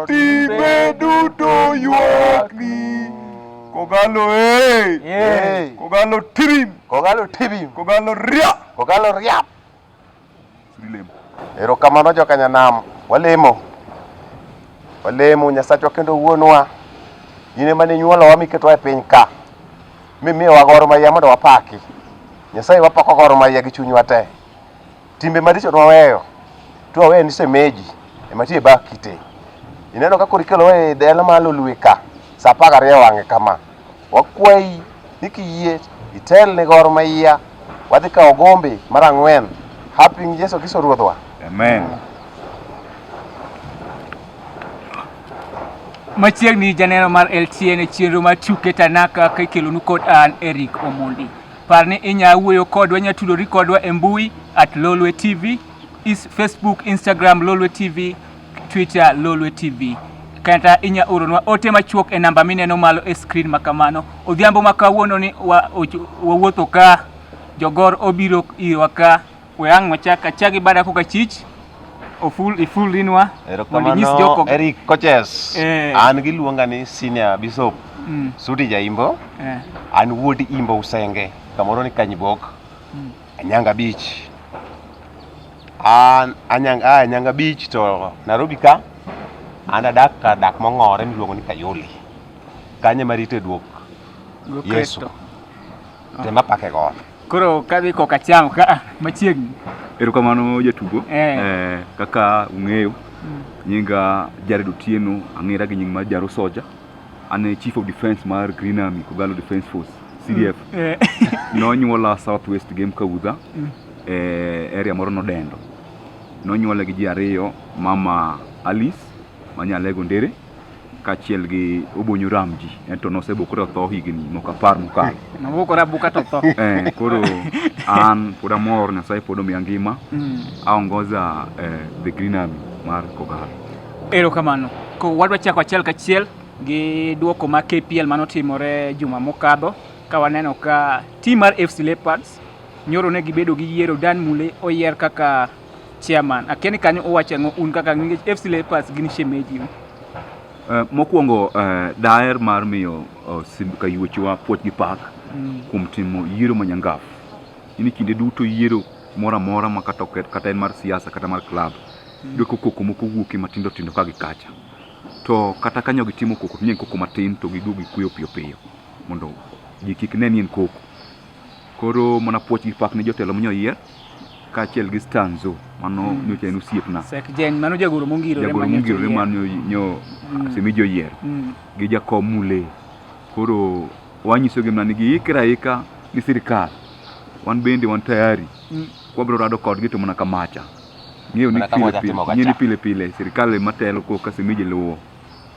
Gotime duto ywakni. Kogalo hey. Hey. Kogalo tibim. Kogalo tibim. Kogalo ria. Kogalo ria. Dilem. Erokamano jokanyanam. Walemo. Walemo Nyasachwa kendo wuonwa. In ema ne nyuolowa miketwa e piny ka. Mimiyowa goro maya mondo wapaki. Nyasaye wapako goro maya gi chunywa te. Timbe maricho twaweyo, twaweyo ni semeji ema tie bak kite. Ineno ka koro ikelo e dala ma lolwe ka sa apar gariyo wang'e kama. Wakwayi ni kiyie itel ni gor ma iya wadhi kawo gombe mar ang'wen hapi gi Yesu Kristo Ruodhwa. Amen. Machiegni janeno mar LTN e chenro mar tuke Tanaka ka ikelonu kod an Eric Omondi. Par ni inya wuoyo kodwa, inya tudori kodwa e mbui at Lolwe TV, is Facebook, Instagram Lolwe TV, Twitter Lolwe TV. Kata inya oronwa ote machuok e namba mineno malo e screen ma kamano. Odhiambo ma kawuono ni wawuotho wa ka jogor obiro irwa ka We ang' wachak achak gi bada koka chich. Oful iful rinwa. Mondo nyis joko. Erokamano Eric Koches. Eh. An giluonga ni senior bishop Mm. Sudi Jaimbo. Eh. An wuod Imbo Usenge. Kamoro ni Kanyibok. Mm. Anyanga Beach. An Anyanga ah, Anyanga Beach to Nairobi ka. An adak ka dak mong'ore miluongo ni Kayole. Kanye marito e duok Go Yesu. Kristo. Tema pake got. Koro kadhi koka chango ka ah, machiegni. Erokamano jatugo. Eh. Eh, kaka ung'eyo mm. nyinga Jared Otieno ang'era gi nying mar Jaro Soja. An e Chief of Defence mar Green Army Kogalo Defence Force CDF. Mm. Eh. Nonyuola South West Game Kaudha mm. e area moro nodendo. Nonyuola gi ji ariyo mama Alice manyalego ndere kachiel gi Obonyo Ramji ento nosebokore otho higni moko apar mokalo. Nobokore abuka to tho. Eh, koro an pod amor Nyasaye pod omiya ngima. Mm. Aongoza eh, the Green Army mar Kogalo. Erokamano. Ko wadwa chako achiel kachiel gi duoko ma KPL mano timore juma mokadho ka waneno ka tim mar FC Leopards nyoro ne gibedo gi yiero Dan Mule oyier kaka Chairman, akia ni kanyo uwacho ang'o un kaka ninge FC Leopards gin shemeji. Uh, mokwongo uh, daer mar miyo uh, Simba Kayuochwa puoch gi pak mm. kuom timo yiero manyangaf. Ini kinde duto yiero mora mora ma kata oket kata en mar siasa kata mar club. Mm. Doko koko moko wuoke matindo tindo ka gikacha. To kata kanyo gitimo koko, nyen koko matin to giduogi kuyo piyo piyo. Mondo ji kik ne nien koko. Koro mana puoch gi pak ne jotelo monyo yier kaachiel gi stanzo mano mm. nyocha en osiepna sekjen mano jagoro mongirore jagoro mongirore mano nyo mm. asemi joyier mm. gi jakom mule koro wanyisogi mana ni giikre aika ni sirikal wan bende wan tayari mm. wabiro rado kodgi to mana kamacha ng'eyo ni pile pile, pile pile sirikal ema telo koka semeji luwo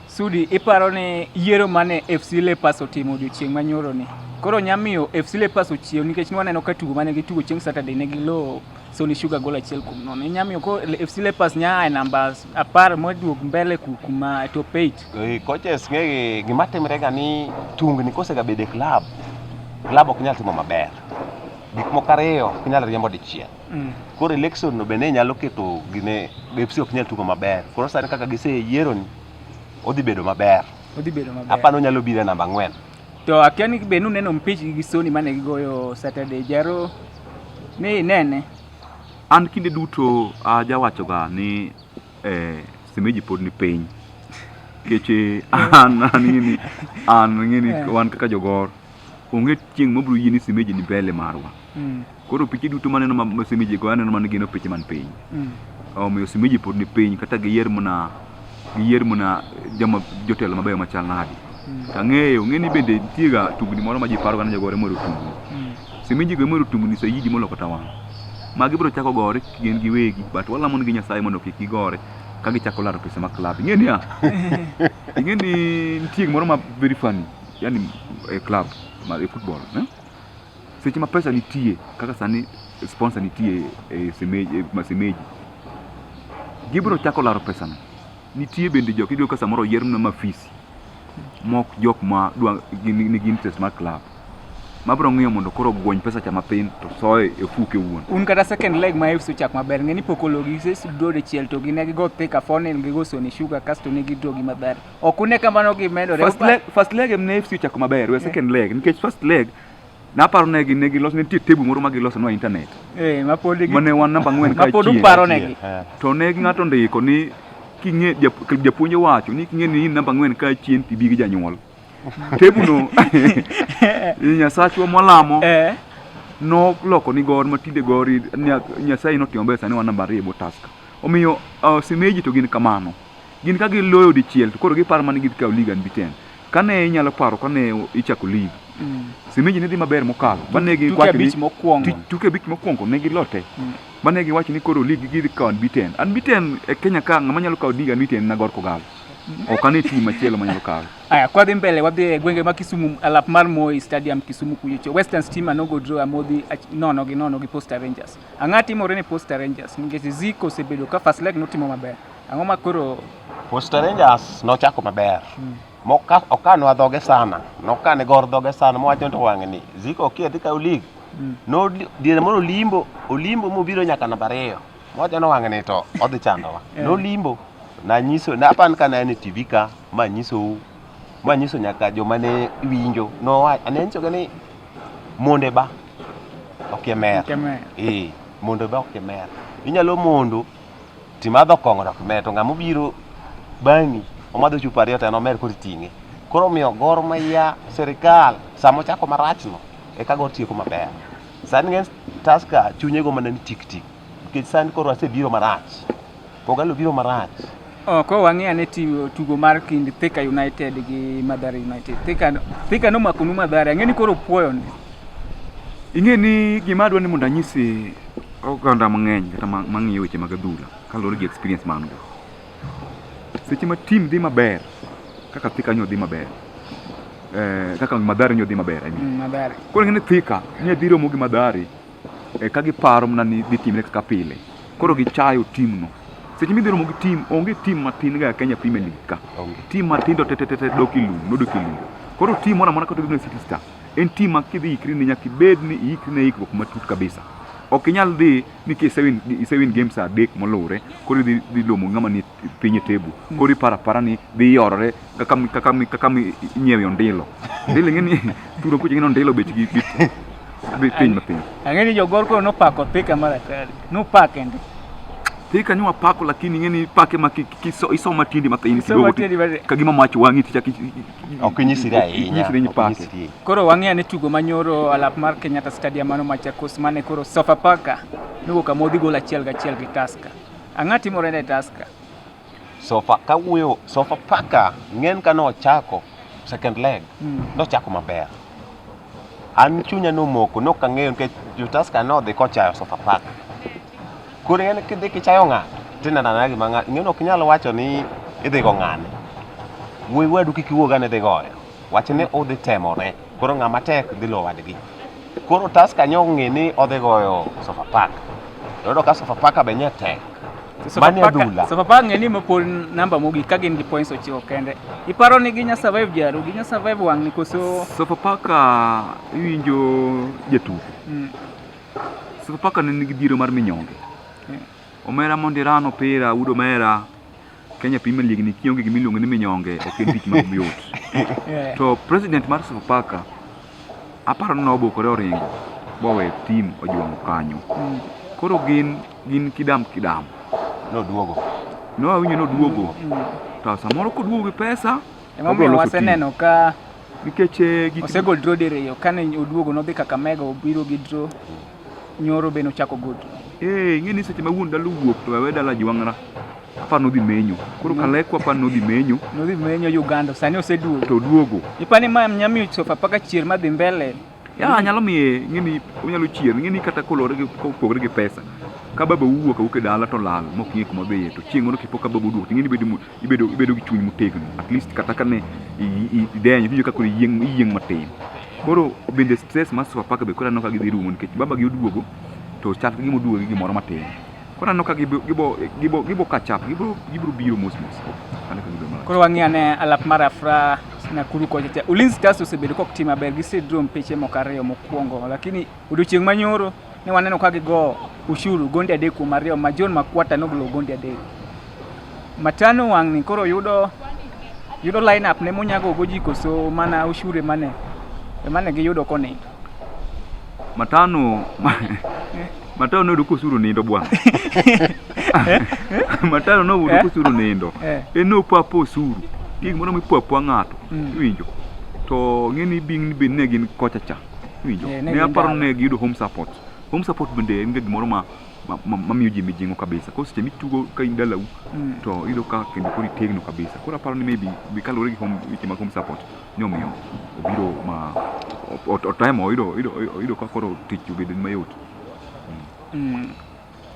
Sudi, iparo ni yiero mane FC Leopards otimo odiochieng' manyoro ni koro nyamiyo FC Leopards ochiew nikech nwaneno ka tugo mane gitugo chieng' Saturday ne gilo Sony Sugar gol achiel kuom nono. Inyamiyo ko FC Leopards nya e namba apar moduog mbele kuma top 8. E, coaches ng'e gima timre ga ni tungni kosegabede club, club ok nyal timo maber. Gik moko ariyo ok nyal riembo dichiel. Mm. Koro election no bende nyalo keto gine Pepsi ok nyal tugo maber. Koro sani kaka giseyiero ni odhi bedo maber. Odhi bedo maber. Apano nyalo biro namba ang'wen. To akia ni be nuneno mpich gi Sony mane gigoyo Saturday jaro ni nene. An kinde duto ajawachoga ni eh, semeji pod ni piny keche an an ngini an ngini eh. wan kaka jogor onge chieng' mabiro yie ni semeji ni mbele marwa Mm. Koro piche duto maneno ma osemiji go aneno mana gino piche man piny. Mm. Omiyo osemiji pod ni piny kata giyier muna giyier muna joma jotelo mabeyo machal nadi. Mm. Tang'eyo ng'eni bende nitiega tugni moro ma ji paroga ni jogore moro tugni. Mm. Semiji go moro tugni sayiji moloko tawang'. Ma gibiro chako gore gin giwegi but walamo nigi Nyasaye mondo kik gigore ka gichako laro pesa ma club. Ing'e niya? Ing'e ni nitie gimoro ma very funny yani e club mar e football. Eh? Seche ma pesa nitie kaka sani sponsor nitie e, e semeji, e masemeji gibiro chako laro pesano. Nitie bende jok iyudo ka samoro oyier na mafisi mok jok ma dwa nigi interest mar club mabro ng'iyo mondo koro gwony pesa cha mapin to soye e fuke wuon. Un kata second leg ma FC ochak maber ng'e ni pokologi se sudode chiel to gi ne gigo thika fonel gigo soni sugar kasto ne gidro gi madhara. Ok une ka mano gimedore. First leg, first leg em ne FC ochako maber, we second leg nikech first leg naparo ne gi ne giloso ne nitie tebu moro ma giloso nwa internet eh ma pod gi mane wan namba ang'wen ka ma pod uparo ne gi eh. to ne gi ng'ato ndiko ni king'e japuonj wacho ni king'e ni in namba ang'wen ka chien tibi gi janyuol tebu no nyasachwa mwalamo eh noloko ni gor matinde gor nyasaye notimo maber sani wan namba ariyo e bwo task omiyo uh, simeji to gin kamano Gin ka giloyo dichiel to koro giparo mana ni gidhi kawo lig unbeaten. Kane inyalo paro kane ichako lig, Simeji ne dhi maber mokalo. Ba ne Tuke giwacho ni- abich mokwongo. Ti- tuke abich mokwongo ne gilote. Ba ne giwacho ni koro lig gidhi kawo unbeaten. Unbeaten e Kenya ka ng'ama nyalo kawo lig unbeaten na Gor Kogallo. Ok ane tim machielo manyalo kawo. Aya, kwa dhi mbele wadhi e gwenge ma Kisumu alap mar Moi Stadium Kisumu kuchocho. Western Stima nogo draw amodhi ach- nono gi nono gi Posta Rangers. Ang'o timore ne Posta Rangers nikech Ziko osebedo ka first leg notimo maber. Ang'o ma koro Posta Rangers nochako maber. Hmm. Moka okanwa dhoge sana. Nokane gor dhoge sana mowacho to wang'e ni Ziko okia dhi kaw lig. Hmm. No diere moro Olimbo, Olimbo mobiro nyaka namba ariyo. Mowacho no wang'e ni to odhi chandowa. Yeah. Nolimbo. Nanyiso, napan ka na en e TV ka, ma nyisou Ma nyiso nyaka joma ne winjo nowa ane nyisoga ni monde ba ok e mer. Kemer. Ee, mondo ba ok e mer. Inyalo mondo timadho kong'o ok mer to ng'ama obiro bang'i omadho chupa ariyo to en omer koro iting'e. Koro omiyo gor maya sirikal sama ochako marachno eka gor tieko maber. Sani ng'eny Tusker chunye go mana ni tik tik nikech sani koro asebiro marach. Kogalo biro marach. Oh, ko wang'e ane tugo mar kind Thika United gi Madhara United. Thika Thika no makonu Madhara. Ang'e ni koro puoyo ni. Ing'e ni gima adwa ni mondo anyisi oganda mang'eny kata mang'iyo weche mag adhula kaluwore gi experience ma an go. Seche ma tim dhi maber kaka Thika nyo dhi maber eh, kaka Madhari nyo dhi maber I mean. Mm, Madhari. Koro ing'e ni Thika nyo dhi romo gi Madhari e ka giparo mana ni dhi timre kaka pile koro gichayo timno seche midhi romo gi tim onge tim matin ga Kenya Premier League ka tim matindo tetetete dok ilum nodok ilum koro tim mora mora kata gibne City Star en tim ma kidhi ikri ne nyaka ibed ni ikri ne ikruok matut kabisa ok inyal dhi ni kisewin isewin games adek moluwre koro idhi dhi lomo ng'ama ni piny e tebu koro iparo apara ni dhi yorore kaka mi- kaka mi- kaka mi- inyiewe ondilo ondilo ing'e ni turo kucha ing'e ni ondilo bechgi bit- bi- piny mapiny Ang'e ni jogor koro nopako thika mar atari. Nopake ndi. thika ni wapako lakini ing'e ni pake ma ki- ki- iso- isoma tindi mathin Isomo kidogo tindi matin. ti- kagima mach wang'i tichak Ok inyisri ahinya. inyisri ni ok pake inyisri. Koro wang'eyo ni tugo manyoro alap mar Kenyatta Stadium mano Machakos mane koro Sofapaka nowuok amodhi gol achiel gachiel gi Tusker. Ang'a timore ne Tusker? Sofa kawuoyo sofa paka ng'en ka nochako second leg mm. nochako maber an chunya nomoko nok ang'eyo nikech jotaska nodhi kochayo sofa park koro ng'en kidhi kichayo ng'ato tineno anena gima ng'ato ng'en ok inyal wacho ni idhi go ng'ane wuoyi wadu kik iwuog ane idhi goyo wach ni udhi temore koro ng'ama tek dhi lo wadgi koro taska nyo ng'e ni odhi goyo Sofapaka yudo ka Sofapaka be nye tek mani adhula Sofapaka ng'e ni mopol namba mogik ka gin gi points ochiko kende iparo ni ginya survive jaru ginya survive wang'ni koso Sofapaka iwinjo jatugo mm. Sofapaka ne nigi dhiero mar minyonge mm. omera mondirano pira udo mera Kenya Premier League ni kionge gima iluongo ni minyonge ok en tich ma yot. To president mar Sofapaka aparo ni nobukore oringo bowe tim ojwang'o kanyo. Mm. Koro gin gin kidam kidam. Noduogo. No awinjo noduogo. Mm. To samoro koduogo gi pesa Emomiyo waseneno ka nikech eh, osegol draw diriyo kane oduogo nodhi Kakamega obiro gi draw Nyoro be nochako goto. Eh, ing'e ni seche ma wuon dala owuok to wewe dala jwang'ra. Apa nodhi menyo. Koro mm. kalekwa apa nodhi menyo. Nodhi menyo Uganda, sani oseduogo. To duogo. Ipani ma nyamiyo sofa paka chier madhi mbele. Ya nyalo miye ng'eni onyalo chier ng'eni kata kolore gi kopogre gi pesa. Ka baba uwuok awuok e dala to lal mok ng'e kuma dhiye to chieng' moro kipo ka baba oduogo ng'eni bedo ibedo ibedo gi chuny motegno at least kata kane idenyo iwinjo kaka iyieng iyieng matin koro bende stress mar Sofapaka be koro aneno ka gidhi rumo nikech baba gi oduogo to chal gi moduogo gi gimoro matin koro aneno ka gibo gibo gibo kachap gibro gibro biro mos mos koro wang'e ane alap mar Afra Nakuru kocha cha Ulinzi Stars osebedo kok tim maber gisedrom piche moko ariyo mokwongo lakini odiochieng' manyoro Ne waneno ka gigo ushuru gonde adek kuom ariyo ma John Makwata nogolo gonde adek. Matano wang'ni koro yudo yudo line up ne monyago goji koso mana ushuru emane emane giyudo koni. Matano Matano noyudo kosuro nindo bwana. Matano noyudo Eh? kosuro nindo. Eh. En nopapo osuru. Gik moro mipapo ng'ato. Mm. Iwinjo. To ng'eni bing' bed ne gin kocha cha. Winjo. Eh, ne Ne aparo gin ni ne giyudo home support. Home support bende en ga gimoro ma ma- ma- mamiyo ji mijing'o kabisa. Koro seche mitugo ka in dalau Mm. to iyudo ka kendo koro itegno kabisa. Koro aparo ni maybe be kaluwore gi home weche mag home support ni omiyo obiro ma o- o- otemo oyudo oyudo oyudo ka koro tich obedo mayot. Mm.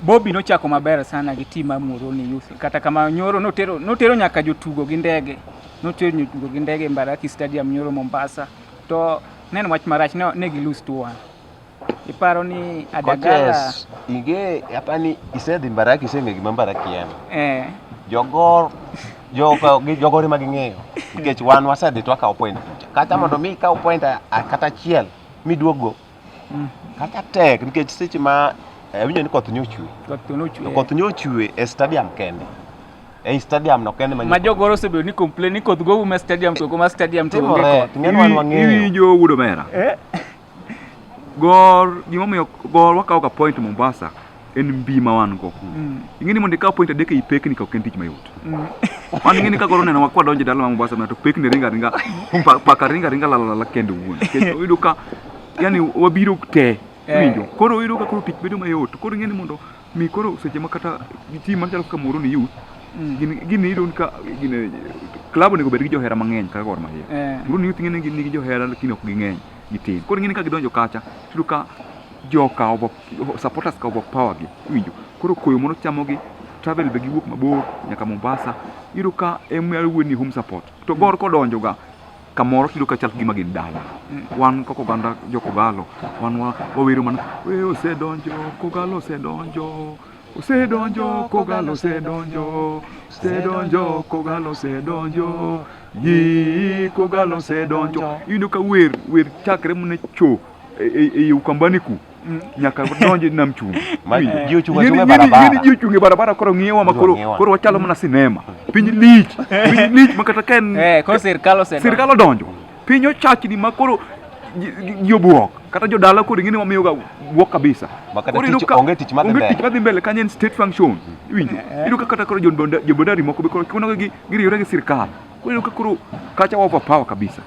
Bobby nochako maber sana gi tim mar Muhoroni Youth. Kata kama nyoro notero notero nyaka jotugo gi ndege. Notero jotugo gi ndege Mbaraki Stadium nyoro Mombasa. To nen wach marach ne ne gilus to one. Iparo ni Adagala Coaches, inge hapa ni isedhi Mbaraki iseng'e gima Mbaraki en. eh Jogor jogo gi jogore ma ging'eyo nikech wan wasedhi twakawo point kucha. Kata mondo mi ikaw point a- a- kata achiel miduogo Mm. Kata tek nikech seche ma eh, awinjo ni koth nyochwe. Koth nyochwe. Koth nyochwe e stadium kende. E stadium no kende manyo. Majogoro osebedo ni complain ni koth go ume stadium to kuma stadium to onge koth. Ng'en wan wang'eyo. Iwinjo wudo mera. Eh. Gor gimomiyo gor wakawo ka point Mombasa. en mbi ma wan go kuno. Mm. Ing'e ni mondo ikaw point adek ei pekni ka ok en tich mayot. Mm. Wan ing'e ni ka koro neno wakwa donjo e dala ma Mombasa mana to pekni ringa ringa pa- paka ringa ringa lala lala kende wuon. Nikech oyudo ka yani wabiro te Eh. winjo. Koro oyudo ka koro tich bedo mayot. Koro ing'e ni mondo mi koro seche ma kata team machalo kaka Moro ni youth Mm. gin gin iyudo ni ka gin club onego bed gi johera mang'eny kaka Gor Mahia. Eh. Moro ni youth ing'e ni gin nigi johera lakini ok ging'eny gitin. Koro ing'e ni ka gidonjo kacha tiyudo ka joka over supporters ka overpower gi iwinjo koro koyo mondo chamo gi travel be giwuok mabor nyaka Mombasa iyudo ka emyalo wuo ni home support to gor kodonjo ga kamoro tiyudo ka chal gima gin dala wan kaka oganda jo Kogalo wan wa- wawero mana we osedonjo Kogalo osedonjo osedonjo Kogalo osedonjo osedonjo Kogalo osedonjo yi Kogalo osedonjo iyudo ka wer wer chakre mune cho e- e e Ukambani ku Mm. nyaka donj nam chumbi ji ochung' achung'a barabara ji ochung' e barabara koro ng'iwa ma koro koro wachalo mana sinema piny lich piny lich ma kata ka en eh, sirkal odonjo piny ochachni ma koro ji obuok kata jodala koro ing'e ni wamiyoga buok kabisa onge tich madhi mbele kanyo en state function iwinjo eh, eh. iyudo ka kata koro jobondari moko be koro chunoga giriyore gi sirkal Kweli Kikuru kacha wa overpower kabisa.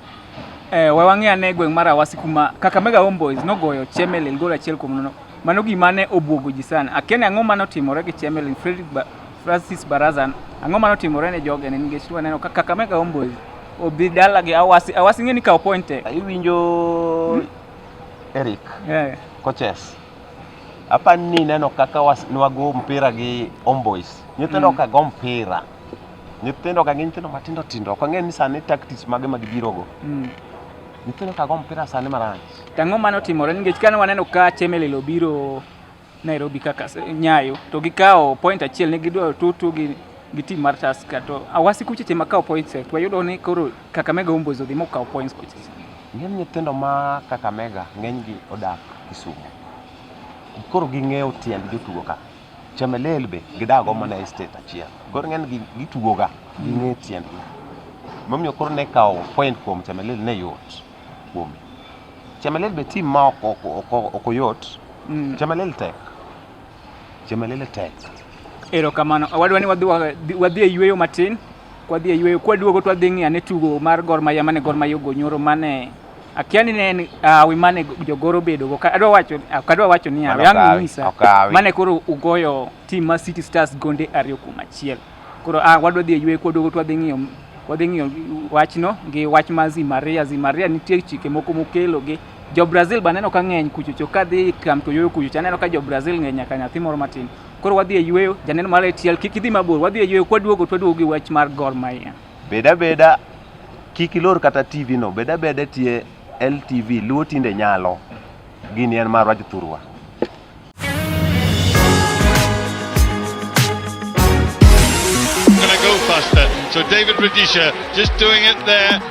Eh, we wang'e ane gweng' mar Awasi kuma Kakamega Homeboys nogoyo Chemelil gol achiel kuom nono. Mano gima ne obwogo ji sana. Akia ni ang'o mane otimore gi Chemelil Fredrick ba Francis Baraza. Ang'o mane otimore ne joge ne nikech waneno ka Kakamega Homeboys obi dala gi Awasi. Awasi ng'e ni kawo point e. Iwinjo Eric Eh, coaches. Apa ni neno kaka was- nwago mpira gi Homeboys. Nyithindo Mm. ka go mpira. Nyithindo ka gin nyithindo matindo tindo, ok ang'e ni sani tactics mage ma gibirogo. Mm. Nyithindo ka go mpira sani marach. Tang'o mano otimore nikech kane waneno ka Chemelil obiro Nairobi kaka Nyayo to gikawo point achiel ne gidwa tutu gi gi tim mar Tusker to awasi kuche tema kawo points to wayudo ni koro Kakamega Homeboyz odhi mokawo points kuche. Ng'eny nyithindo ma Kakamega ng'enygi odak Kisumu. Koro ging'eyo tiend jotugo ka. Chemelil be gidago mana e state achiel. Koro ng'eny gi gitugoga gi ng'e tiendgi. Momiyo koro ne kawo point kuom Chemelil ne yot kuom. Chemelil be team ma ok ok ok ok oyot. Mm. Chemelil tek. Chemelil tek. Erokamano. Wadwa ni wadhi wa- wadhi e yueyo matin. kwadhi e yweyo kwaduogo twadhi ng'iyo ane tugo mar Gor Mahia mane Gor Mahia ogo nyoro mane akia ni ne en hawi mane jogoro obedogo Ka- adwa wacho ok adwa wacho ni hawi Mano ang' okawi, inyisa okawi. mane koro ugoyo tim mar City Stars gonde ariyo kuom achiel koro ah, wadwa dhi e yweyo kwaduogo twadhi ng'iyo wadhi ng'iyo wachno gi wach mar Zimaria Zimaria nitie chike moko mokelo gi jo Brazil baneno ka ng'eny kuchocho kadhi kam to yoyo kuchocho aneno ka jo Brazil ng'eny nyaka nyathi moro matin Koro wadhi e yueyo, janeno mar ATL kik idhi mabor, wadhi e yueyo, kwaduogo to waduogo gi wach mar Gor Mahia. Bed abeda kik ilor kata TV no, bed abeda tie LTV, Luo tinde nyalo. Gini en marwa jothurwa. Gonna go faster. So David Radisha just doing it there.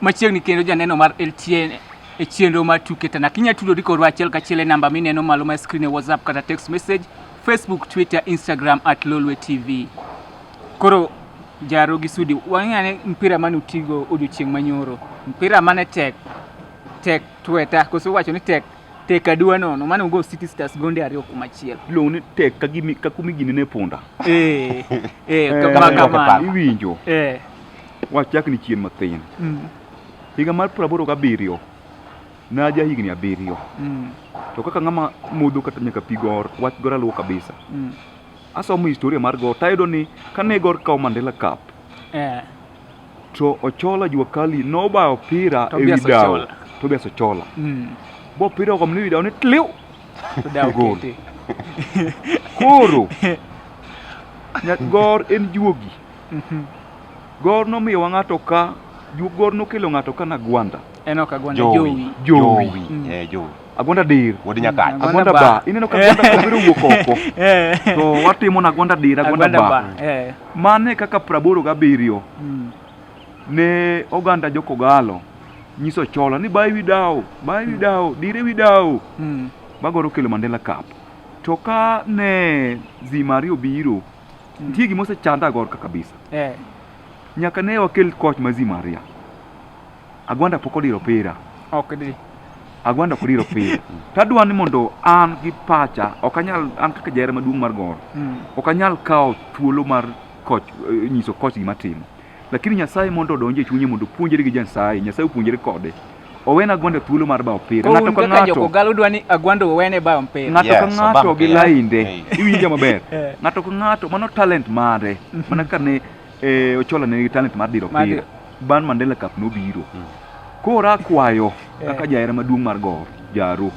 Machiegni kendo janeno mar LTN e chenro mar tuke tana kinya tudori kodwa achiel kachiel e namba mineno malo ma screen e WhatsApp kata text message Facebook, Twitter, Instagram at Lolwe TV. Koro jaro gi sudi wang'ane mpira mane utigo odiochieng' manyoro mpira mane tek tek tweta koso wacho ni tek Tek aduwa nono mane ugo City Stars gonde ariyo kuom achiel. Iluongo ni tek ka gimi ka kumi gini ne punda. Eh. Eh, Eh, kama kama- kama. Iwinjo. Eh. Wachak ni chien mathin. Mm. Higa mar praboro gabiriyo naja higni abiriyo Mm. to kaka ng'ama modho kata nyaka pi gor wach gor aluwo kabisa Mm. asomo historia mar gor tayudo ni kane gor kawo mandela cup Eh. to Ochola Jua Kali nobayo opira e wi dawo Tobias Ochola mm. bo opira ogo mni wi dawo ni tliw gol koro gor en juogi mhm. gor nomiyowa ng'ato ka gor nokelo ng'ato ka na gwanda en ok agwanda jowi jowi mm. eh, Agwanda dir. Wuod Nyakach. Agwanda ba. Ineno ka agwanda obiro wuok oko. Eh. To watimo na agwanda dir, agwanda ba. Eh. Mane kaka praboro gabiriyo. Hmm. Ne oganda jokogalo nyiso chola ni bayi widawo, bayi hmm. widawo, dire widawo. Hmm. Magoro kelo Mandela Cup. To ka ne Zimari obiro, nitie gima osechanda agorka kabisa. Eh. Nyaka ne wakel koch ma Zimaria. Agwanda pok odiro opira. Ok di. Agwanda ok odiro opira. to adwa ni mondo an gi pacha ok anyal an kaka jahera maduong' mar gor. Mm. Ok anyal kawo thuolo mar koch eh, nyiso koch gima timo. Lakini Nyasaye mondo odonje chunye mondo puonjere gi Nyasaye, Nyasaye opuonjere kode. Owena Agwanda thuolo mar bawo opira. Ng'ato ka ng'ato. Joko galo dwa ni Agwanda owene bawo opira. Ng'ato ka ng'ato gi lainde. Iwinjo maber. Eh. Ng'ato ka ng'ato mano talent mare. Mana kane eh, Ochola ne nigi talent mar diro Mar opira. Ban Mandela Cup nobiro. Koro akwayo kaka jahera maduong' mar Gor, Jaru.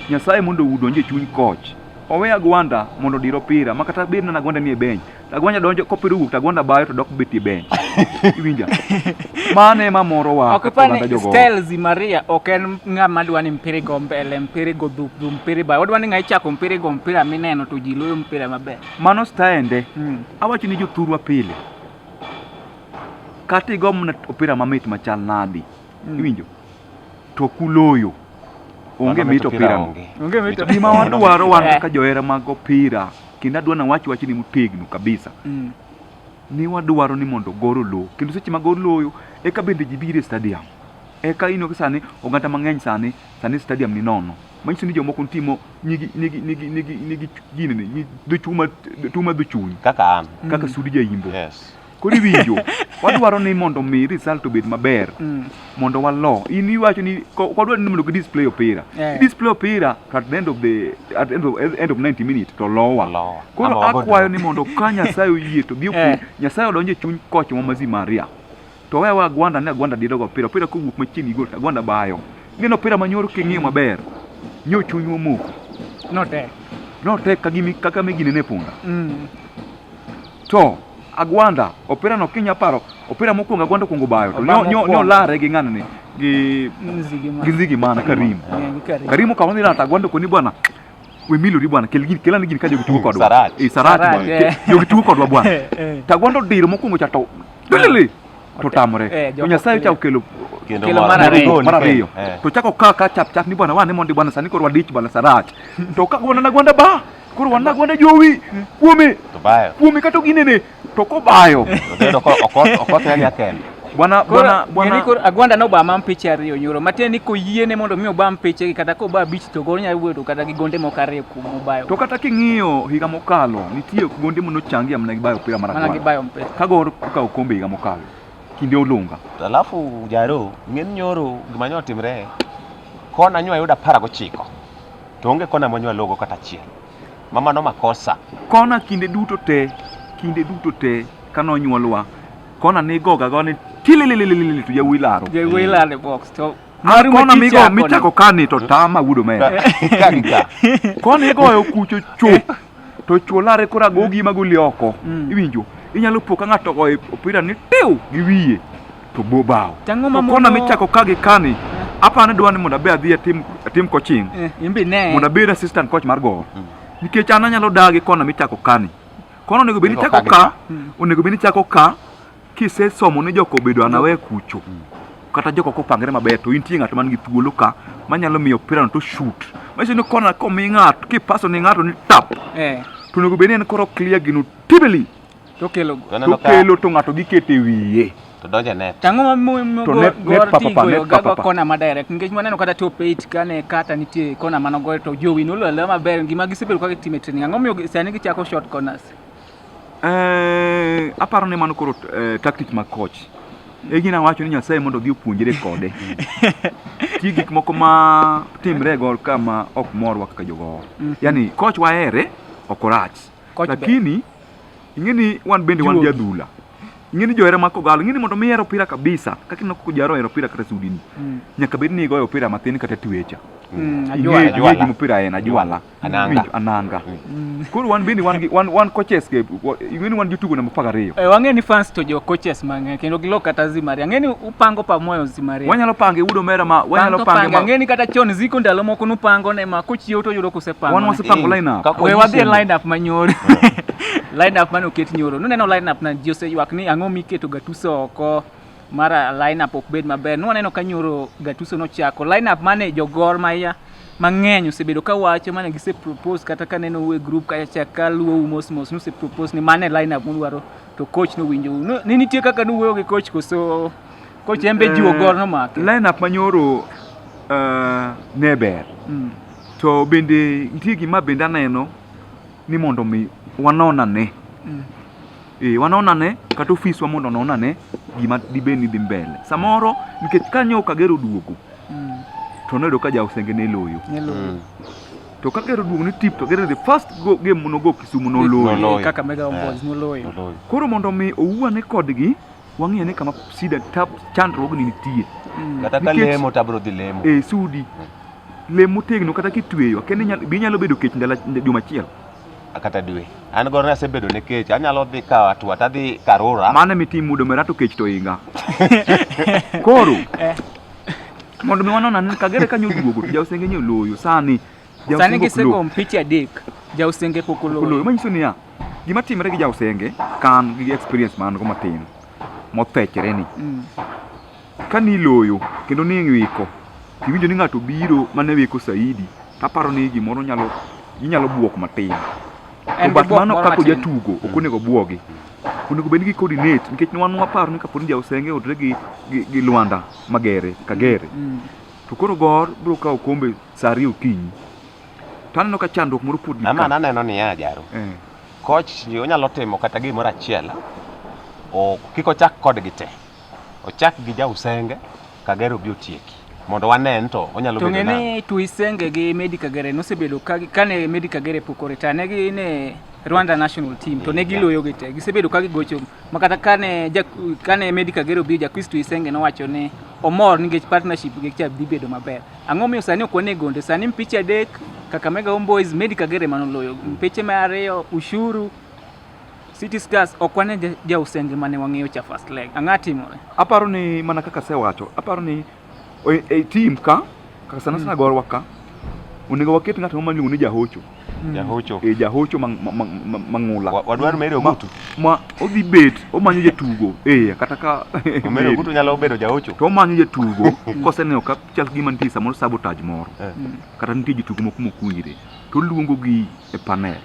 Nyasaye mondo udonje chuny koch. Owe Agwanda mondo dir opira ma kata bed na Agwanda nie bench. To Agwanda donjo kopiro wuok to Agwanda bayo to dok betie bench. Iwinja. Mano ema moro wa. Ok kaka oganda pani jogoo. Styles Maria ok en ng'ama dwa ni mpira igo mbele, mpira igo dhuk, dhuk, mpira ibayo. Odwa ni ng'a ichako mpira igo mpira mineno to ji loyo mpira maber. Mano staende. Mm. Awacho ni jothurwa pile. Kata igo mana opira mamit machal nadi. Mm. Iwinjo? To kuloyo. Onge mit opira no. Onge mit. Gima wadwaro wan kaka johera mag opira kendo adwa nawach wach ni motegno kabisa. Mm. Ni wadwaro ni mondo goro lowo kendo seche ma goro loyo eka bende ji biro e stadium. Eka ino sani oganda mang'eny sani sani stadium ni nono. manyiso ni jomoko timo nigi nigi nigi nigi nigi gini ni dochuma tuma dochuny kaka an mm. kaka sudi jaimbo yes kodi winjo wadwaro ni mondo mi result obed maber mm. mondo walo in iwacho ni kodwa ni mondo display opira yeah. display opira at the end of the at the end of, end of 90 minutes to lowa lowa koro akwayo ni mondo ka nyasaye oyie to gi yeah. nyasaye odonje chuny koch ma mazi maria to wewa agwanda ne agwanda dido go opira opira kowuok machiegni gol agwanda bayo gino opira manyoro king'iyo maber nyo chuny womoko notek notek kagimi kaka migine ne punda mm. to agwanda opira no kinya paro opira mokwongo agwanda kwongo bayo to nyo nyo nyo lare gi ng'anani gi nzigi mana karim karim okawo ni rata agwanda koni bwana we milori bwana kel gini kelani gini ka jogi tugo kodwa Sarach. eh sarach Sarach, bwana eh. Ke- jogi tugo kodwa bwana Eh, eh. tagwando diro mokwongo cha to lili to Eh, tamre to joko- nyasaye cha okelo Kendo Kelo mar mar ariyo. ariyo. mar ariyo Eh. to chako kaa ka chap chap ni bwana wane mondi bwana sani koro wadich bwana sarach to ka gwana na gwanda ba koro wana gwanda jowi kuome To bayo. kuome kata ginene To kobayo. Obedo ko okot okot ya kende. Bwana bwana bwana Niko Agwanda no bama mpiche ariyo nyoro. Matiende ni koyie ne mondo mi oba mpiche kata ko ba bich to gol nyalo wuodo kata gi gonde moko ariyo kuom obayo. To kata king'iyo higa mokalo nitie gonde mono changi amna gi bayo opira mara. Mana gi bayo mpiche. Kago ka okombe higa mokalo. Kinde olunga. Alafu jaro ng'en nyoro gima nyotimre kona nyo ayuda para gochiko. To onge kona monywa logo kata achiel. Mama no makosa. Kona kinde duto te, kinde duto te kano nyuolwa. Kona ni goga go ni tililililil to yawuyi laro. Yawuyi laro e box to Mar kona mi go mi chako kani to tama wudo me. Kagika. Kona igoyo kucho chu. To chuolare kora gogi magoli oko. Mm. Iwinjo? Inyalo po ka ng'ato ogoyo opira ni tiu gi wiye. to bo bao. Tang'o ma Kona mono- michako ka gi kani. Apani dwa ni mondo abe adhi atim atim coaching. Eh, in be ne. Mondo abed assistant coach mar gowo. Nikech an anyalo dagi kona michako kani. Kona onego bed ni Iko chako ka gi ka, ka. onego bed ni chako ka kisesomo ni joko bedo anawe kucho. Kata joko kopangre maber to intie ng'at man gi thuolo ka manyalo miyo opira no to shoot. Machiso ni kona komi ng'ato kipaso ni ng'ato ni tap. Eh. To onego bed ni en koro clear gino tibili. To kelo go. Toneno ka Tokelo to ng'ato giketo e wiye. to donjo e net. Tang'o ma mo mo To go net- net go papa ti pa, goyo net ga papa go pa. kona ma direct nikech waneno kata top 8 kane kata nitie kona mano goyo to jowi nolo le maber gima gisebedo ka gitime training ang'o miyo gi- sani gichako short corners Eh, aparo ni mano koro eh, tactic mag coach. E gina wacho ni Nyasaye mondo odhi opuonjre kode. Ti gik moko ma timre e gol kama ok morwa kaka jogo. Mhm. Yaani coach wahere ok orach. Coach ber. Lakini Ing'e ni wan bende wan jadhula. Ing'e ni johera ma kogallo, ing'e ni mondo mi hero opira kabisa, kaka ineno koko jaro hero opira kata sudini. Mm. Nyaka bed ni igoyo opira matin kata twecha. Mm, ing'e ing'e gima opira en ajwala. Ananga. Ananga. Mm. Koro wan bende wan wan wan coaches ke ing'e ni wan jotugo namba 12. Eh, wang'e ni fans to jo coaches mang'e kendo gilok kata zimari. Ang'e ni pango pa moyo zimare. Wanyalo pango e udo mera ma wanyalo pango ma. Ngeni kata chon ziko ndalo moko nu pango ne ma kochiew to yudo kuse pango. Wan wase pango line up. We wadhi e line up manyoro. Line up mane oket nyoro. Nuneno line up na ji oseywak ni ang'o miketo gatuse oko mara line up ok bed maber. Nwaneno ka nyoro gatuse nochako. Line up mane jogor maya mang'eny osebedo ka wacho mane gise propose kata ka neno e group kacha ka luwo mos mos nuse propose ni mane line up mudwaro To coach no winjo. No, ni nitie kaka nu wuoyo gi coach koso coach en be eh, jiwo gol no make. Line up manyoro uh, eh, ne ber. Mm. To bende nitie gima bende aneno ni mondo mi wanona ne. Mm. Eh, wanona ne kata ofiswa mondo onona ne gima dibed ni dhi mbele. Samoro nikech kanyo Kagero duogo. Mm. To noyudo ka ja Osenge ne loyo. Ne loyo. Mm. to ka gero duogo ni tip to gero the first go, game monogo Kisumu noloyo Noloyo. Eh, kaka mega ombos Eh. noloyo Noloyo. koro mondo mi owuane kodgi wang'eyo ni kama sida tab chandruogni nitie Mm. Kata ka Nikech- lemo to abiro dhi lemo. e sudi lem motegno kata kitweyo kende nyal- be inyalo bedo kech ndalo ach- juma achiel Kata dwe. An gono asebedo ne kech. Anyalo dhi ka atwa tadhi karura. mano mitimo mudo merato kech to inga koro Eh. Mondo mi wanona ni kagere kanyo duogo to jausenge nyo loyo sani. Sani gisego mpiche adek. Jausenge pok oloyo. Oloyo manyiso niya, gima timre gi jausenge kan gi experience man go matin mothechre ni. Mm. Ka ni loyo kendo ni wiko, iwinjo ni ng'ato biro mane wiko saidi, taparo ni gimoro nyalo inyalo buok matin. To bat mano kaka ojatugo ok mm. onego bwogi onego bed ni gi-coordinate nikech wan waparo ni kaponi jausenge odre gi, gi, gi lwanda magere kagere mm. mm. to koro gor biro kawo kombe saa ariyo okinyi to aneno ka chandruok moro pod ama aneno niya jaro eh. koch onyalo timo kata gimoro achiel kik ochak kodgi te ochak gi jausenge Kagere obi otieki mondo wane ni to onyalo bedo nang'o. To ng'e ni Tuisenge gi Medi Kagere nosebedo kane Medi Kagere pok oreta ne gi ne Rwanda national team to ne giloyo gi te gisebedo ka gigocho ma kata kane kane Medi Kagere obi Jakris Tuisenge nowacho ni omor nikech partnership gi cha dhi bedo maber. Ang'o miyo sani ok wane gonde sani mpich adek Kakamega Homeboys Medi Kagere manoloyo mpiche ma ariyo Ushuru City Stars ok wane jausenge mane wang'eyo cha first leg. Ang'a timore? Aparo ni mana kaka sewacho, aparo ni e, e team ka kaka sana sana mm. gorwa ka onego waket ng'at ma miluongo ni jahocho mm. jahocho e jahocho mang'ula wadwar mere ogutu ma odhi bet omanyo jatugo eh kata ka mere ogutu nyalo bedo jahocho to omanyo jatugo koseneno ka chal gima nitie samoro sabotage moro eh. mm. kata nitie jatugo moko mokuire to luongo gi e panel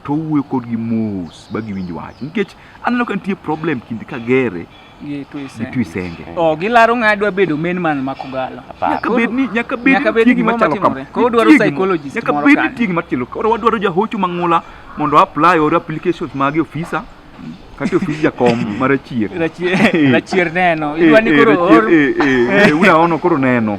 to owuoyo kodgi mos ba giwinj wach nikech aneno ka nitie problem kind kagere gi twisenge oh, gilaro ng'a dwa bedo main man ma kogalo nyaka bed ni nyaka bed nyaka bed gima machalo kama ko dwaro psychologist nyaka bed ni tigi machalo koro wadwaro jahocho mang'ula mondo apply or applications mage ofisa kati ofis jakom ma rachier rachier neno idwa ni koro or unaono koro neno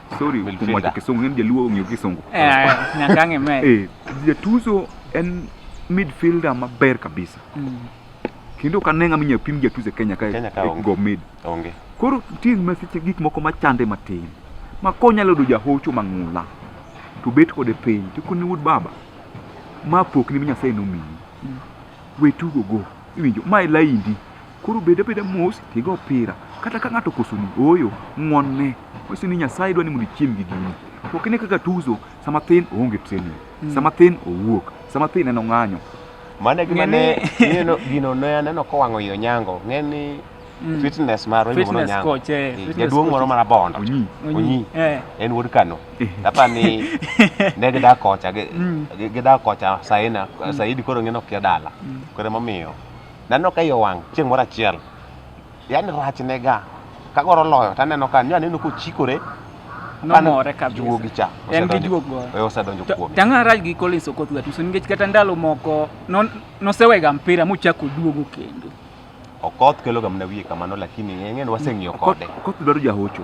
sorry We'll kuom feel wacho that. kisungu in jaluo ong'eyo kisungu Eh, nyaka ang'e me. Eh, jatuzo en midfielder maber kabisa Mm. kendo ok ane ng'ama inyalo pim jatuzo e kenya kae Kenya ka onge. go mid Onge. koro nitie masiche gik moko machande matin ma konyalo yudo jahocho mang'ula to bet kode piny to koni wuod baba ma pokni mi nyasaye nomiyi Mm. we tugo go iwinjo ma e laindi Koro bed abeda mos tigo opira. Kata ka ng'ato kosoni, ooyo, ng'wonne. Wanyise ni Nyasaye dwa ni mondo ichiem gi gini. To ok ine kaka tuzo sama thin oonge training, hmm. sama thin owuok, sama thin en ong'anyo. Mano e gima ne gino ne aneno kowang'o yo nyango. Ng'eni hmm. fitness marwa iluongo ni Onyango. Eh, eh, jaduong' moro mar Abondo, Onyi, eh. en wuod Kano. Apa ni ne gidak kocha, hmm. gidak kocha Saina, Saidi koro ng'eno kia dala. Koro emomiyo Naneno ka iye owang' chieng' moro achiel, yaani rachne ga kagoro loyo to aneno ka nyo aneno kochikore Nomore kabisa. juogi cha En gi juok go. osedonjo- eh, osedonjo To- kuome. Tang'ara rach gi Collins Okoth Gatuso nikech kata ndalo moko non- nosewega mpira mochako duogo kendo. Okoth keloga mana wiye kamano lakini ng'enyne waseng'iyo kode. Okoth dwaro jahocho.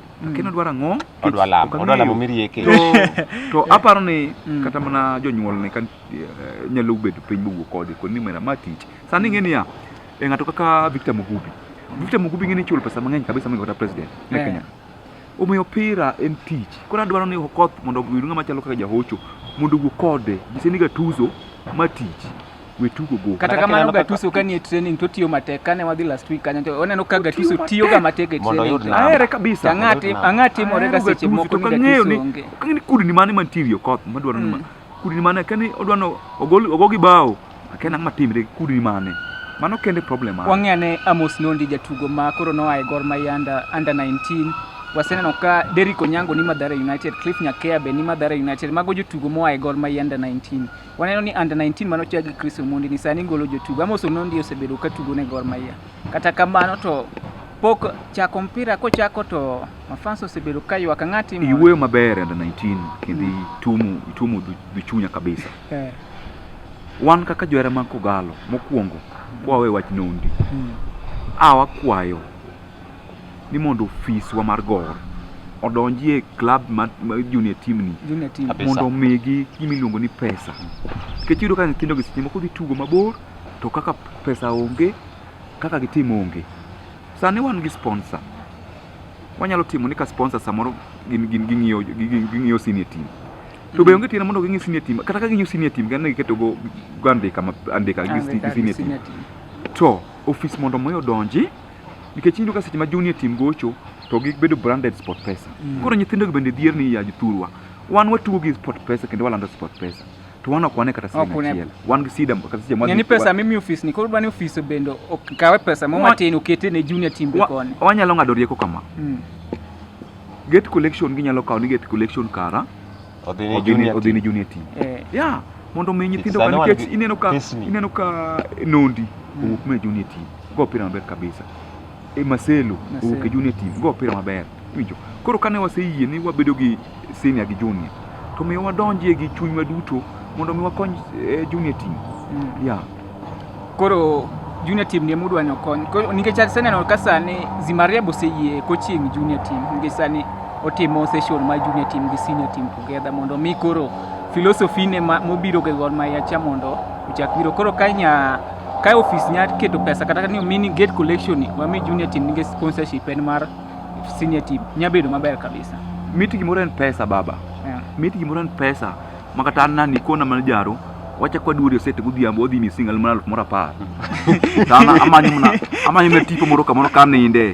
lakini odwaro ang'o Odwa lamo, Ok odwa lamo ang'eyo. mirieke. to, to aparo ni Mm. kata mana jonyuolne ka eh, nyalo bedo piny mowuo kode kod ni mera ma tich sani ing'e niya e ng'ato kaka Victor Mugubi Victor Mugubi ing'e ni chulo pesa mang'eny kabisa moingo kata president e Eh. Kenya omiyo opira en tich koro adwaro ni Okoth mondo oyud ng'ama chalo kaka jahocho mondo owuo kode nyise ni gatuzo ma tich we tugo go. Kata kamano Gattuso ka nie training to tiyo matek kane wadhi last week kanyo to oneno ka Gattuso tiyo ga matek e training. Ahere kabisa. Ang'ati ang'ati more ga seche moko ni Gattuso onge. Kang'eni kudni mane mantirie koth madwaro ni mm. kudni mane kani odwano ogol ogogi bao akena ng'ama timre kudni mane. Mano kende problem mane. Wang'e ane Amos Nondi jatugo ma koro noa e Gor Mahia under, under 19 waseneno ka Derrick Onyango ni Mathare United, Cliff Nyakea be ni Mathare United, mago jotugo moa e Gor Mahia under 19 Waneno ni under 19 mano chak gi Chris Omondi ni sani golo jotugo. Amos Onondi osebedo ka tugo ne Gor Mahia. Kata kamano to pok chako mpira kochako to mafans osebedo ka ywak ng'ati iwuoyo maber under 19 kendo mm. itumu itumu duchunya kabisa eh. wan kaka johera mag kogalo mokwongo kwawe wach nondi mm. awa kwayo ni mondo ofiswa mar Gor odonji e club ma, ma junior team ni Junior team. Kabisa. mondo omigi gima iluongo ni pesa nikech iyudo ka nyithindo gi seche moko dhi tugo mabor to kaka pesa onge kaka gitim onge sani wan gi sponsor wanyalo timo ni ka sponsor samoro gin- gin- ging'iyo gi- gi- ging'iyo senior team to be onge tiende mondo ging'i senior team kata ka ging'iyo senior team gane giketo go go andika ma- andika gi Andika gi senior team senior team. to ofis mondo mi odonji nikech iyudo ka seche ma junior team gocho to gibedo branded sport pesa mm. koro nyithindogo bende dhier ni ya jothurwa wan watugo gi sport pesa kendo walando sport pesa to wan ok wane kata siling achiel wan gi sida kata seche mwa ni pesa mimi ofis ni koro dwani ofis bende okawe pesa mo matin okete ne junior team be koni wanyalo ng'ado rieko kama mm. gate collection ginyalo kawo ni gate collection kara Odhi ni junior odhi ni junior team. Eh. Yeah, mondo mi nyithindo kan nikech ineno ka ineno ka nondi mm. owuok me junior team. Go opira maber kabisa. E Marcelo owuok e junior team. Go opira maber. Winjo. Koro kane waseyie ni wabedo gi senior gi junior to miyo wadonjie gi chunywa duto mondo mi wakony eh, junior team. Mm. Yeah. Koro junior team ni emudwa ni okony nikech aseneno ka sani Zimariab oseyie coaching junior team nikech sani otimo session mar junior team gi senior team together mondo mi koro philosophy ne mobiro ga Gor Mahia cha mondo ochak biro koro ka nya ka office nya keto pesa kata ni mini gate collection wami junior team nikech sponsorship en mar senior team nya bedo maber kabisa. Miti gimoro en pesa baba. Yeah. Miti gimoro en pesa. makata an nani kona mana jaro wacha kwa duori osete godhiambo odhi ni single mana aluf moro apar sana amanyo mana amanyo mana tipo moro kamoro ka ninde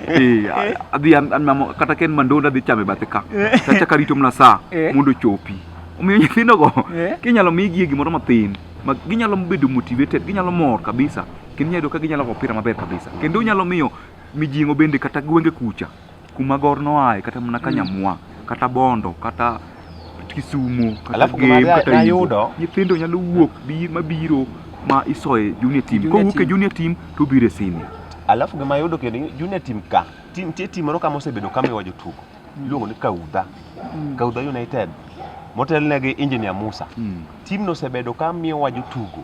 eh adhi an an mamo kata ken mandonda adhi chame bathe ka tacha karito mana saa Eh. mondo chopi omiyo nyithindo go Eh. kinyalo migi gimoro mathin ma ginyalo bedo motivated ginyalo mor kabisa kendo nyalo ka ginyalo go opira maber kabisa kendo nyalo miyo mijingo bende kata gwenge kucha kuma gor noaye kata mana ka nyamwa kata bondo kata kisumo kata Alafu gima gem na- kata nayudo- Imbo. nyithindo nyalo wuok bi mabiro ma isoye junior team Junior kowuok e team. junior team to obiro e senior alafu gima yudo kendo ni junior team ka ti- nitie tim moro kama osebedo kamiwa jotugo iluongo ni kaudha kaudha united motelnegi engineer musa Mm. timno osebedo kamiwa jotugo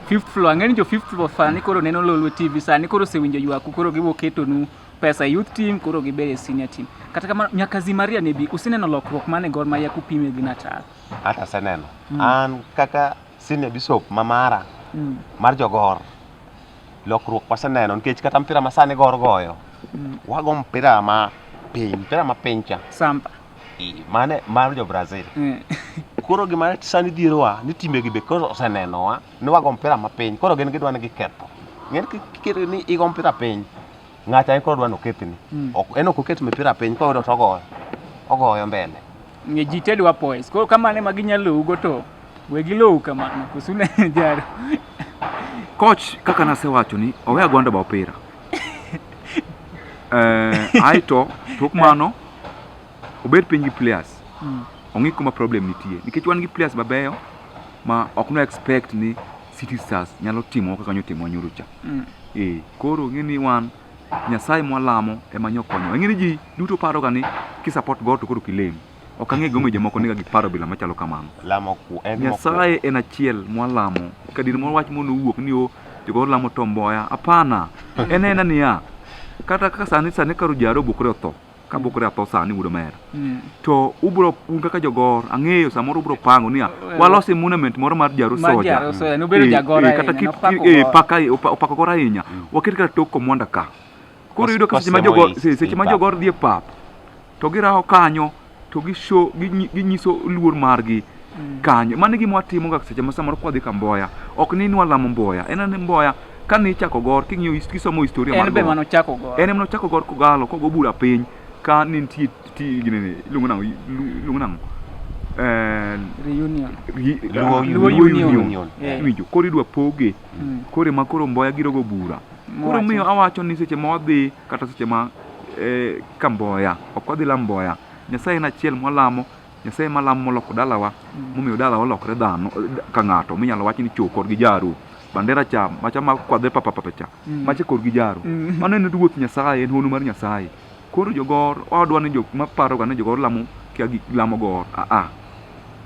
fifth floor ang'e ni jo fifth floor sani koro neno lolwe tv sani koro osewinjo ywaku koro gibo ketonu pesa e youth team koro gibed e senior team kata kamano nyaka zimaria ne bi useneno lokruok mane gor mahia kupime gi natal Hata seneno. An kaka senior bishop ma mara Mm, mar jogor lokruok waseneno nikech kata mpira ma sani gor goyo mm. wago mpira ma piny mpira ma piny cha samba I- mane mar jo Brazil Eh, koro gima sani dhierowa ni timegi be koro osenenowa ni wago mpira mapiny koro gin gidwa ni giketho ng'en kikere ni igo mpira piny ng'acha en koro dwa ni okethni Mm. Ok- en ok oket mipira piny koyudo to ogoyo ogoyo mbele nge ji te dwa poise koro kamano ema ginyalowugo to we gilowu kamano kosune jaro Coach kaka nasewacho ni owe agwanda ba opira. Eh, aeto tok mano obed piny gi players Mm. ong'i kuma problem nitie nikech wan gi players mabeyo ma ok no expect ni City Stars nyalo timo kaka nyotimo nyoro cha Mm. eh koro ng'e ni wan nyasaye mwalamo ema nyokonyo ng'e ni ji duto paroga ni kisupport God to koro kilem Ok ang'e gimomiyo jomoko niga gi paro bila machalo kamano. Lamo ku en mokuongo. Nyasaye en achiel mwalamo. Kadir moro wach mondo owuok ni o jogo lamo to mboya. Hapana. En ena niya. Kata kaka sani sani karo jaro bukre otho. Ka bukre atho sani wudo mera. To ubro un kaka jogor ang'eyo samoro ubro pango niya walosi monument moro mar jaro Mar soja. jaro soja, nobedo Eh, jagoro eh, kata ahinya, kit- nopako eh, goro. paka eh, opa- opako goro ahinya. Waket kata tok komwanda ka. koro yudo ka seche ma jogo seche ma jogo dhi e pap to girawo kanyo to gisho ginyiso luor margi mm. kanyo mano gima watimo ga seche ma samoro kwadhi ka mboya ok ni nwa lamo mboya en ni mboya ka ni chako gor king'iyo kisomo historia mar en be mano chako gor en mano chako gor kogalo kogo bura piny ka ni nitie ti gine ni lungu nango lungu nango eh reunion luo union winjo koro idwa poge mm. kore ma koro mboya girogo bura Koro miyo awacho ni seche ma wadhi kata seche ma eh, kamboya ok wadhi lamboya nyasaye en achiel mwalamo nyasaye malamo moloko dalawa mm. momiyo dalawa olokre dhano eh, ka ng'ato minyalo wach ni chokor gi jaru bandera cha macha ma kwadhe papapapecha mm. macha kor gi jaru mm. mano en ruoth nyasaye en hono mar nyasaye Koro jogor wadwa ni jok ma paro ga ni jogor lamo kia gi lamo gor. A a.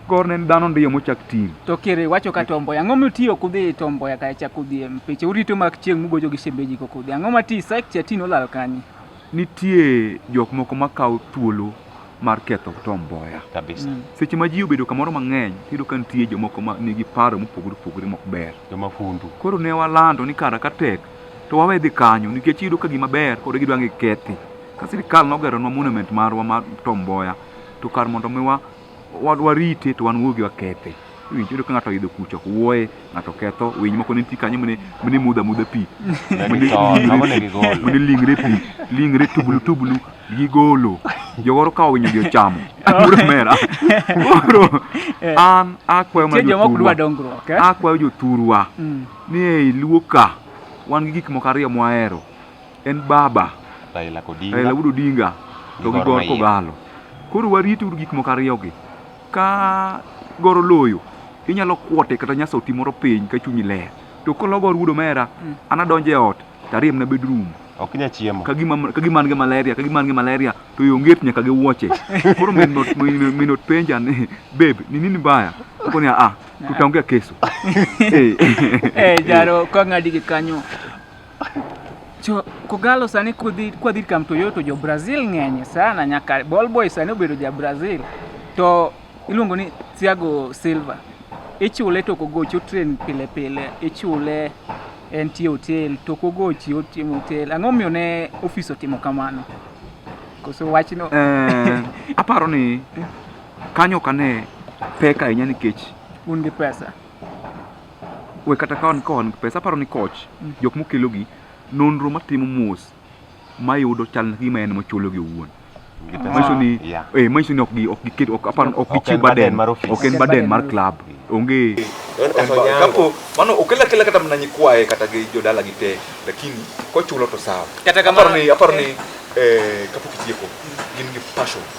Gor ne en dhano ndiyo mochak tim. To kere wacho ka tomboya. Ang'o mitiyo kudhi tomboya ka cha kudhi e mpiche. Urito mak chieng' mugojo gi shemeji ko kudhi. Ang'o mati site cha tino lal kanyi. Nitie jok moko ma kawo thuolo mar ketho tomboya. kabisa Mm. Seche ma ji obedo kamoro mang'eny, iyudo ka nitie jomoko ma nigi paro mopogore opogore mok ber. joma fundu Koro ne walando ni kara ka tek to wawe dhi kanyo nikech iyudo ka gima ber kod gidwa ngi kethi ka sirikal nogeronwa monument marwa mar Tom Mboya to kar mondo mi wa warite to wan wuogi wakethe winj yudo ka ng'ato oyudo kucho wuoye ng'ato ketho winy moko nitie kanyo mane mane mudha mudha pi mane lingre pi lingre tubulu tubulu gigolo jogoro ka owinyo gi ochamo koro mera koro an akwayo mana jothurwa akwayo jothurwa Ni ei Luo ka wan gi gik moko ariyo mwahero en baba Raila Odinga, Raila Amolo Odinga to gi Gor Kogalo. Koro warit uru gik moko ariyogi. Ka Gor oloyo, inyalo kwote kata nyasa oti moro piny ka chunyi ler. To kolo Gor wuod omera, mm. an adonjo e ot to ariyo mana bedroom. Ok inyal chiemo. Ka gima ka gima an gi malaria, ka gima an gi malaria to yo nget nyaka gi wuoche. Koro min not min not penja ni babe, ni nini mbaya? Akoni a a tutaongea kesho. Eh, eh jaro kwa ngadi kanyo. Cho kogalo sani kudhi kwa dhir kam Toyota jo Brazil ng'enye sana nyaka ball boy sani obedo ja Brazil. To iluongo ni Thiago Silva. Ichule to kogocho train pile pile, ichule en tie hotel to kogochi otimo hotel. Ang'o miyo ne ofis otimo kamano? Koso wachno. Eh, aparo ni Kanyo ok ane pek ahinya nikech un gi pesa we kata ka wan ka wan gi pesa aparo ni koch mm. jok mokelogi nonro matimo mos mayudo chal na gima en mochulogi owuon manyiso ni eh manyiso ni ok gi ok giket ok aparo ok gichiw baden ok en baden mar club onge kapo mano okela kela kata mna nyikwaye kata gi jodala gi te lakini kochulo to sawa kata kamano aparo ni aparo ni eh kapok itieko gin gi passion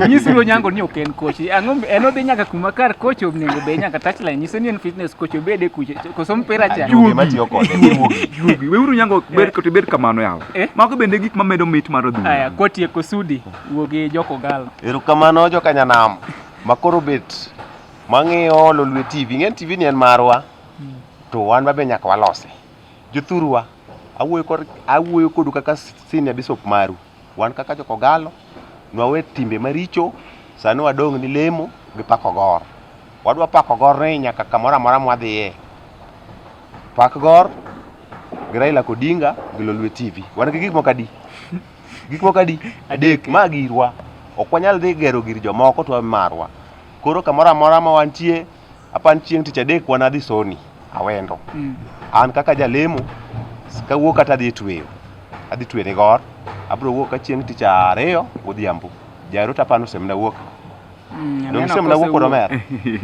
Onyisi lo nyango ni ok en coach. Ang'o en odhi nyaka kuma kar coach onego be nyaka touchline. Nyiso ni en fitness coach obede kuche. Koso mpira cha. Juogi matiyo kode. Juogi. Weuru nyango ber kote ber kamano yawa. Eh? Mago bende gik mamedo mit mar odhi. Aya koti e kosudi. Wuogi joko galo. Eru kamano joka nyanam. Makoro bet. Mang'iyo lolwe TV. Ng'en TV ni en marwa. Hmm. To wan babe nyaka walose. Jothurwa. Awuoyo kodu kaka senior bishop maru. Wan kaka jokogalo, nwawe timbe maricho, sani wadong' ni lemo gi pako gor. Wadwa pako gor ni nyaka kamoro amora mwadhiye. Pak gor gi Raila Kodinga gi Lolwe TV. Wan gi gik moko adi? Gik moko adi? Adek. Ma girwa. Ok wanyal dhi gero gir jomoko to wawe marwa. Koro kamoro amora ma wantie, Apan chieng' tich adek wan adhi soni awendo. Mm. An kaka jalemo kawuok kata adhi tweyo. Adhi tweyo ni gor. Abro wuok ka chieng' tich ariyo odhiambo. Jairo tapano semna wuok. Mm, Dong aneno semna kose wuok koro wuok. mer.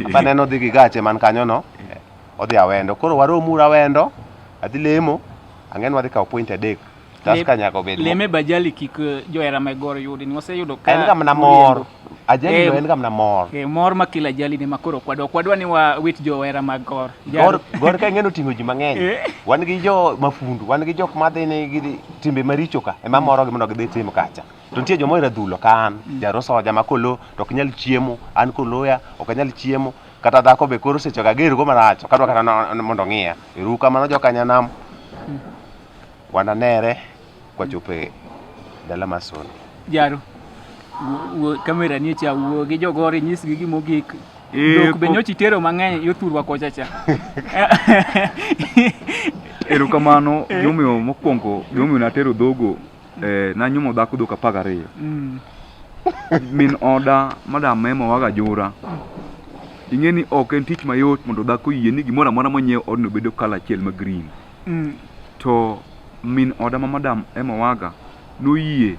Apan en odhi gi gache man kanyo no. Odhi awendo. Koro warom ura awendo. Adhi lemo. Ang'e ni wadhi kawo point adek. Tusker nyaka obed leme bajali kik eh, johera ma goro yudi ni waseyudo ka en kama namor ajali eh, en kama namor eh mor ma kila ajali ni makoro kwadwa kwadwa ni wa wit johera ma gor gor gor ka ngeno tingo ji mang'eny eh. wan gi jo mafundu wan gi jok ma dhi ni gi timbe maricho ka ema moro gi mondo gidhi tim kacha to nitie joma ohero dhulo ka an mm. jarosoja ma kolo to ok nyal chiemo an koloya ok anyal chiemo kata dhako be koro sechoga gergo marach kadwa kata mondo ng'iya eruka mano jokanyanam mm. Wananere kwachopo e dala mar Soni. Jaro. Kamera nie cha wuo gi jogoro inyisgi gima ogik. Dok be nyochi tero mang'eny yothurwa kocha cha. Erokamano eh. gimomiyo mokwongo gimomiyo natero dhogo eh, nanyuomo dhako dhok apar gariyo. Mm. Min oda madam Mema waga jura. ing'e ni ok en tich mayot mondo dhako yie ni gimoro amora monyiew odno bedo kala achiel ma green Mm. To min oda ma madam Emma Waga noyie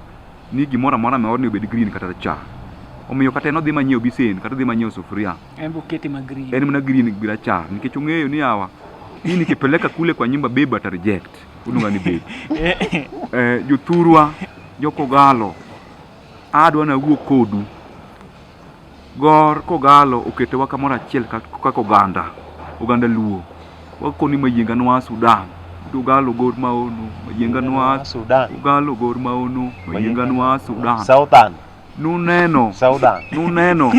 ni gimoro amora ma odni obed green kata rachar. Omiyo kata en odhi manyiewo bisen kata odhi manyiewo sufuria. En bokete ma green. En mana green gi rachar nikech ong'eyo ni hawa hii nikipeleka kule kwa nyumba beba ta reject unuga ni beba eh, jothurwa jokogalo adwa na wuo kodu Gor kogallo oketowa kamoro achiel kaka oganda, oganda luo. Wakoni mayienga nwa Sudan, ugallo gor maono, mayienga nwa Sudan, ugallo gor maono, mayienga nwa Sudan. Southern. Nuneno, Southern. nuneno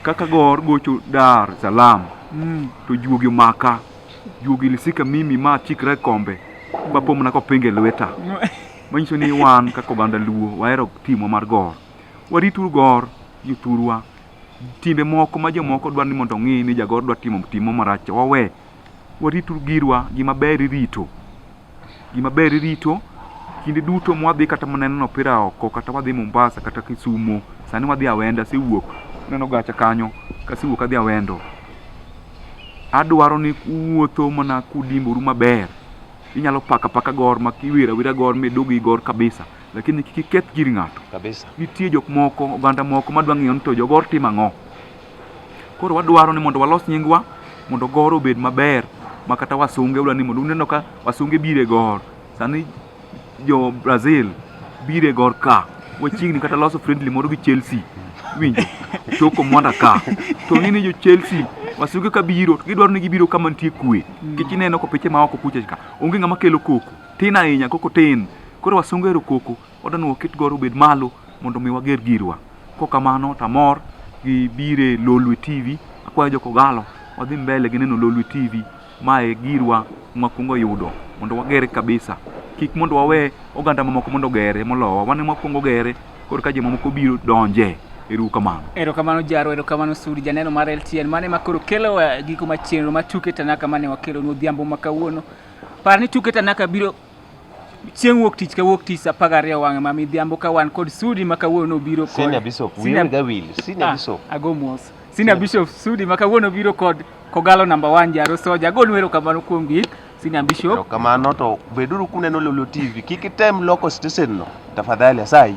kaka gor gocho Dar es Salaam mm. to juogi omaka juogi lisika mimi ma chikre kombe mapomna kopinge lweta manyiso ni wan kaka oganda luo wahero timo mar gor Warituru gor jothurwa. Timbe moko ma jomoko dwaro ni mondo ong'i ni jagor dwa timo timo marach wawe. Warituru girwa, gima ber irito. Gima ber irito kinde duto mwadhi kata mana neno opira oko kata wadhi Mombasa kata Kisumo, sani wadhi Awendo asewuok neno gacha kanyo kasewuok adhi Awendo. Adwaro ni uwuotho mana kudimboru maber. Inyalo pako apaka gor ma iwiro awira gor midog gi gor kabisa. lakini kik iketh gir ng'ato kabisa. Nitie jok moko oganda moko madwa ng'eyo ni to jogor timo ang'o. Koro wadwaro ni mondo walos nyingwa mondo gor obed maber ma kata wasunge ula ni mondo uneno ka wasunge bire gor sani jo Brazil bire gor ka wachiegni kata loso friendly moro gi Chelsea winjo toko mwanda ka to ng'e ni jo Chelsea wasunge ka biro gidwaro ni gibiro kama nitie kue kech ineno ko piche ma oko kucha ka onge ng'ama kelo koko tin ahinya koko tin koro wasungu ero koko wadwani waket goro obed malo mondo mi wager girwa kokamano tamor gi bire lolwe tv akwayo jokogalo wadhi mbele gi neno lolwe tv mae girwa mwakwongo yudo mondo wagere kabisa kik mondo wawe oganda mamoko mondo ogere molowa wane mwakwongo ogere koro ka jomamoko biro donje eru kamano erokamano jaro erokamano sudi janeno mar ltn mane makoro kelo eh, giko ma chenro ma tuke tanaka mane wakelonu odhiambo ma kawuono Par ni tuke Tanaka biro chieng' wuok tich ka wuok tich saa apar gariyo wang'e ma midhiambo ka wan kod Sudi ma kawuono obiro kod Senior Bishop, Senior- wiu gawil, Senior Ah, Bishop. ago mos Senior Bishop Sudi ma kawuono obiro kod Kogalo namba 1 Jaro Soja agonu erokamano kuom gik Senior Bishop Erokamano to beduru kuneno Lolio TV. Kik item loko stesen no. Tafadhali asayi.